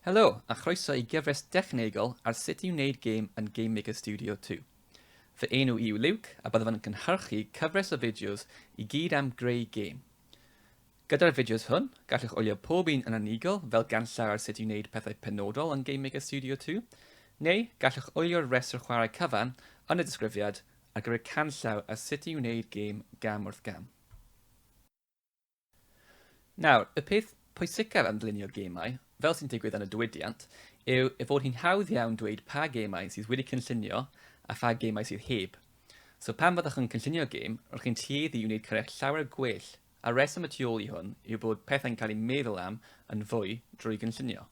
Helo, a chroeso i gyfres dechnegol ar sut i wneud gêm yn GameMaker Studio 2. Fy enw i yw Luke, a byddaf yn cynhyrchu cyfres o fideos i gyd am greu gêm. Gyda'r fideos hwn, gallwch wylio pob un yn unigol fel ganllaw ar sut i wneud pethau penodol yn GameMaker Studio 2, neu gallwch wylio'r rhestr chwarae cyfan yn y disgrifiad ar gyfer canllaw ar sut i wneud gêm gam wrth gam. Nawr, y peth pwysicaf am ddylunio gemau, fel sy'n digwydd yn y diwydiant, yw ei fod hi'n hawdd iawn dweud pa gemau sydd wedi cynllunio a pha gemau sydd heb. So pan fyddwch yn cynllunio gêm, rwy'ch chi'n tueddu i wneud cyrraedd llawer gwell, a'r rheswm y tu ôl i hwn yw bod pethau'n cael eu meddwl am yn fwy drwy gynllunio.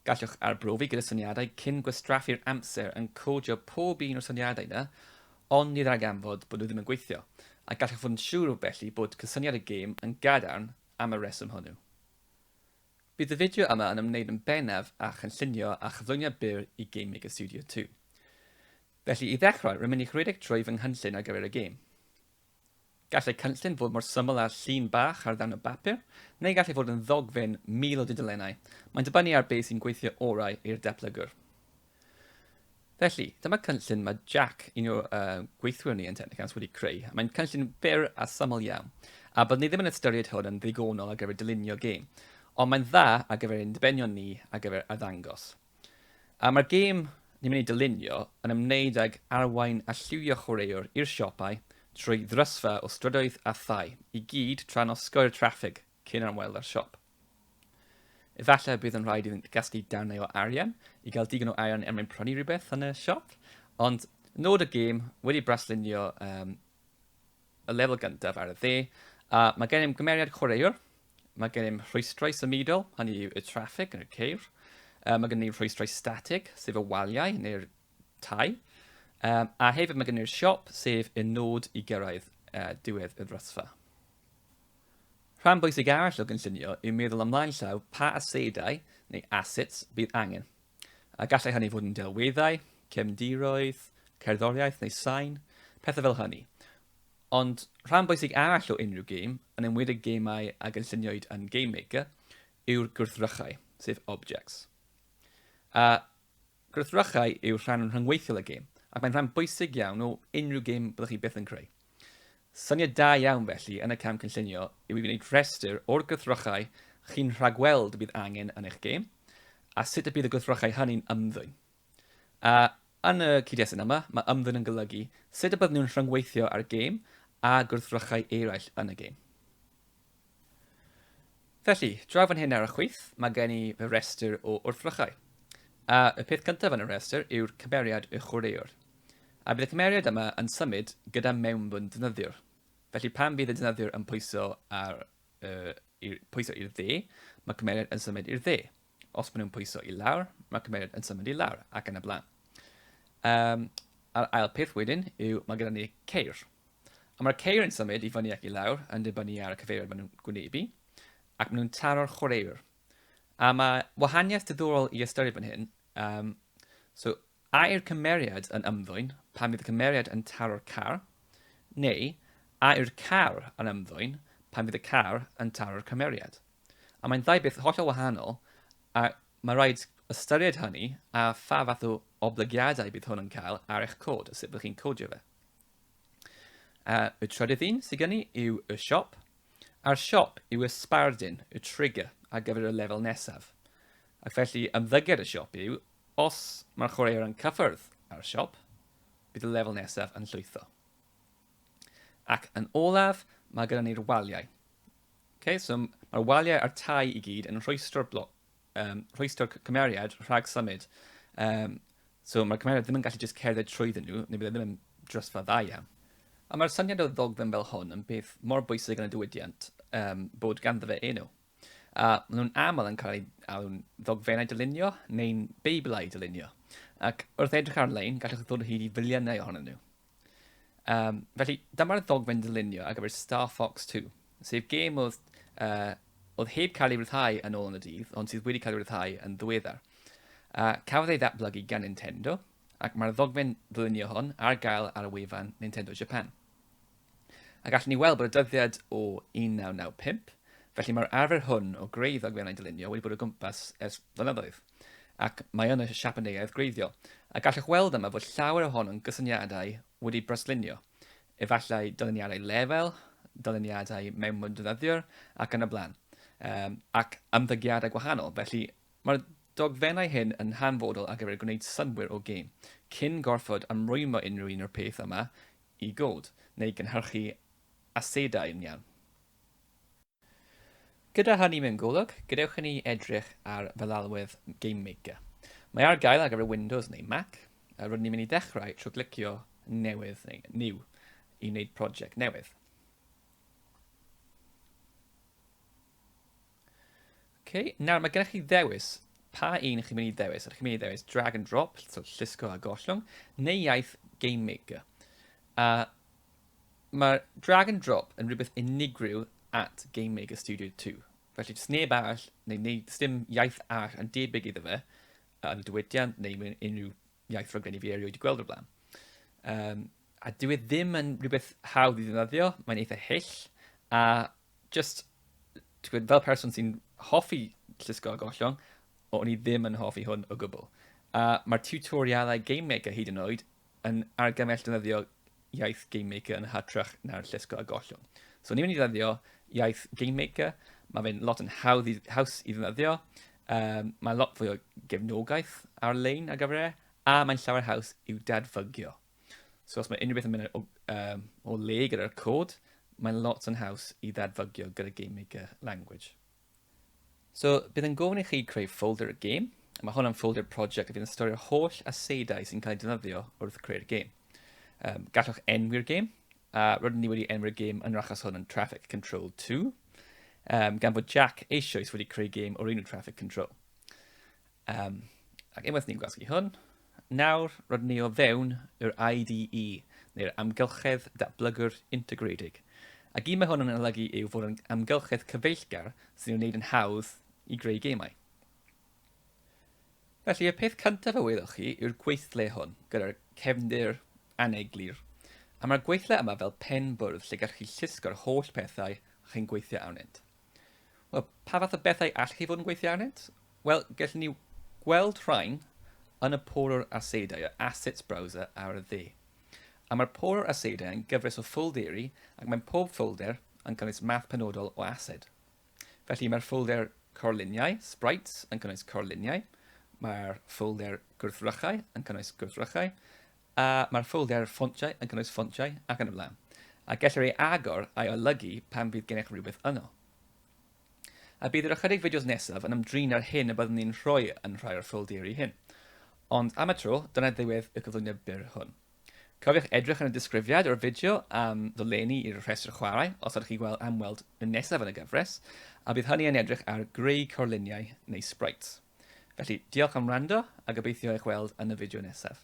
Gallwch arbrofi gyda syniadau cyn gwastraffu'r amser yn codio pob un o'r syniadau yna, ond ni ddarganfod bod nhw ddim yn gweithio, a gallwch fod yn siŵr felly bod cysyniad y gêm yn gadarn am y rheswm hwnnw. Bydd y fideo yma yn ymwneud yn bennaf â chynllunio a chyflwyniad byr i Game Maker Studio 2. Felly, i ddechrau, rwy'n mynd i'ch rhedeg trwy fy nghynllun ar gyfer y gêm. Gallai cynllun fod mor syml â llun bach ar ddarn o bapur, neu gallai fod yn ddogfen mil o dudalennau, mae'n dibynnu ar beth sy'n gweithio orau i'r datblygwr. Felly, dyma cynllun mae Jack, un o uh, gweithwyr ni yn Technicans, wedi creu. Mae'n cynllun byr a syml iawn, a byddwn ni ddim yn ystyried hwn yn ddigonol ar gyfer dylunio gêm, ond mae'n dda ar gyfer ein dibenion ni ar gyfer arddangos. A mae'r gêm ni'n mynd i dylunio yn ymwneud ag arwain a lliwio chwaraewr i'r siopau trwy ddrysfa o strydoedd a thai i gyd tra'n osgoi'r traffig cyn ymweld â'r siop. Efallai y bydd yn rhaid iddynt gasglu darnau o arian i gael digon o arian er mwyn prynu rhywbeth yn y siop, ond nod y gêm wedi braslunio um, y lefel gyntaf ar y dde, a mae gennym gymeriad chwaraewr Mae gennym rhwystrau symudol, hynny yw y traffig yn y ceir. Um, mae gennym ni rhwystrau statig, sef y waliau neu'r tai. Um, a hefyd mae gennym ni'r siop, sef y nod i gyrraedd uh, diwedd y ddrysfa. Rhan bwysig arall o gynllunio yw meddwl ymlaen llaw pa asedau neu assets bydd angen. A gallai hynny fod yn delweddau, cefndiroedd, cerddoriaeth neu sain, pethau fel hynny. Ond rhan bwysig arall o unrhyw gêm, yn enwedig gemau a gynlluniwyd yn Game Maker, yw'r gwrthrychau, sef objects. A gwrthrychau yw'r rhan rhyngweithiol y gêm, ac mae'n rhan bwysig iawn o unrhyw gêm byddwch chi byth yn creu. Syniad da iawn felly yn y cam cynllunio yw i wneud rhestr o'r gwrthrychau chi'n rhagweld y bydd angen yn eich gêm, a sut y bydd y gwrthrychau hynny'n ymddwyn. A, yn y cyd-destun yma, mae ymddwyn yn golygu sut y bydden nhw'n rhyngweithio â'r gêm a gwrthrychau eraill yn y gêm. Felly, draw fan hyn ar y chwith, mae gen i fy restr o wrthrychau. A y peth cyntaf yn y restr yw'r cymeriad y chwaraewr. A bydd y cymeriad yma yn symud gyda mewnbwn defnyddiwr. Felly pan fydd y defnyddiwr yn pwyso ar, uh, i'r, pwyso i'r dde, mae cymeriad yn symud i'r dde. Os maen nhw'n pwyso i lawr, mae cymeriad yn symud i lawr ac yn y blaen. Um, a'r ail peth wedyn yw mae gyda ni ceir. A mae'r ceir yn symud i fyny ac i lawr yn dibynnu ar y cyfeiriad maen nhw'n gwynebu ac maen nhw'n taro'r chwaraewr. A mae wahaniaeth diddorol i ystyried fan hyn. Um, so, A yw'r cymeriad yn ymddwyn pan fydd y cymeriad yn taro'r car, neu a yw'r car yn ymddwyn pan fydd y car yn taro'r cymeriad? A mae'n ddau beth hollol wahanol, a mae rhaid ystyried hynny a pha fath o oblygiadau bydd hwn yn cael ar eich cod a sut byddwch chi'n codio fe. A y trydydd un sydd gen i yw y siop, a'r siop yw y sbardun, y trigger, ar gyfer y lefel nesaf. Ac felly, ymddygiad y siop yw Os mae'r chwaraewr yn cyffwrdd â'r siop, bydd y lefel nesaf yn llwytho. Ac yn olaf, mae gyda ni'r waliau. Okay, so mae'r waliau a'r tai i gyd yn rhwystro'r blo um, rhwystro'r cymeriad rhag symud. Um, so mae'r cymeriad ddim yn gallu just cerdded trwyddyn nhw, neu bydd e ddim yn drysfa dda iawn. A mae'r syniad o ddogfen fel hwn yn beth mor bwysig yn y diwydiant um, bod ganddo fe enw. a maen nhw'n aml yn cael eu alw'n ddogfennau dylunio neu'n beiblau dylunio, ac wrth edrych ar-lein gallwch ddod hyd i filiynau ohonyn nhw. Um, felly, dyma'r ddogfen dylunio ar gyfer Star Fox 2, sef gêm oedd, uh, oedd heb cael ei ryddhau yn ôl yn y dydd, ond sydd wedi cael ei ryddhau yn ddiweddar. Uh, cafodd ei ddatblygu gan Nintendo, ac mae'r ddogfen ddylunio hon ar gael ar y wefan Nintendo Japan. A gallwn ni weld bod y dyddiad o 1995, felly mae'r arfer hwn o greu ddogfennau dylunio wedi bod o gwmpas ers blynyddoedd, ac mae yn y siapaneaidd gwreiddiol, a gallwch weld yma fod llawer ohono'n gysyniadau wedi braslunio, efallai dyluniadau lefel, dyluniadau mewnwdnyddiwr, ac yn y blaen, um, ac ymddygiadau gwahanol, felly mae'r dogfennau hyn yn hanfodol ar gyfer gwneud synwyr o gêm, cyn gorfod ymrwymo unrhyw un o'r peth yma i god neu gynhyrchu asedau yn iawn. Gyda hynny mewn golwg, gadewch i ni edrych ar feddalwedd GameMaker. Mae ar gael ar gyfer Windows neu Mac, a rydyn ni'n mynd i ddechrau trwy glicio Newydd neu New i wneud project newydd. Okay. Nawr, mae gennych chi ddewis. Pa un chi'n mynd i ddewis? Ydych chi'n mynd i ddewis drag and drop, so llusgo a gollwng, neu iaith game maker? A mae drag and drop yn rhywbeth unigryw at Game Maker Studio 2. Felly, jyst neb arall, neu, neu dim iaith arall yn debyg iddo fe, yn y diwydiant neu mewn unrhyw iaith rhaglenni fi erioed wedi gweld o'r blaen. Um, a dwi e ddim yn rhywbeth hawdd i ddefnyddio, mae'n eitha hyll, a jyst, ti'n gwybod, fel person sy'n hoffi llusgo a gollwng, o'n i ddim yn hoffi hwn o gwbl. A mae'r tutorialau Game Maker hyd yn oed yn argymell defnyddio iaith Game Maker yn hytrach na'r llusgo a gollwng. So ni'n mynd i ddefnyddio iaith Game Maker, mae fe'n lot yn hawdd i, haws i ddefnyddio, um, mae lot fwy o gefnogaeth ar-lein ar gyfer e, a mae'n llawer haws i'w dadfygio. So os mae unrhyw beth yn mynd o, um, o le gyda'r cod, mae'n lot yn haws i ddadfygio gyda Game Maker Language. So, bydd yn gofyn i chi creu folder y game, a mae hwn am folder project a bydd yn storio holl aseidau sy'n cael ei defnyddio wrth creu'r game. Um, gallwch enwi'r game, a rydyn ni wedi enwi'r game yn yr achos hwn yn Traffic Control 2, um, gan bod Jack eisoes wedi creu game o'r enw Traffic Control. Um, ac unwaith ni'n gwasgu hwn, nawr rydyn ni o fewn yr IDE, neu'r amgylchedd datblygwr integredig. Ac un mae hwn yn olygu yw fod yn amgylchedd cyfeillgar sy'n ei wneud yn hawdd i greu gemau. Felly, y peth cyntaf a wyddoch chi yw'r gweithle hwn, gyda'r cefndir aneglur. A mae'r gweithle yma fel pen bwrdd lle gallwch chi llusgo'r holl pethau chi'n gweithio arnynt. Wel, pa fath o bethau allwch chi fod yn gweithio arnynt? Wel, gallwn ni gweld rhain yn y porwr asedau, y Assets Browser ar y dde. A mae'r porwr asedau yn gyfres o ffolderi ac mae'n pob ffolder yn cynnwys math penodol o ased. Felly mae'r ffolder corluniau, sprites, yn cynnwys corluniau, mae'r ffolder gwrthrychau yn cynnwys gwrthrychau, A mae'r ffoldr ffontiau yn cynnwys ffontiau ac yn y blaen, a gellir ei agor a'i olygu pan fydd gennych rywbeth yno. A bydd yr ychydig fideos nesaf yn ymdrin â'r hyn y byddwn ni'n rhoi yn rhai o'r ffolderi hyn. Ond am y tro, dyna ddiwedd y cyflwyniad byr hwn. Cofiwch edrych yn y disgrifiad o'r fideo am ddolenni i'r rhestr chwarae os ydych chi gweld am weld y nesaf yn y gyfres, a bydd hynny yn edrych ar greu corluniau neu sprites. Felly, diolch am wrando a gobeithio eich weld yn y fideo nesaf.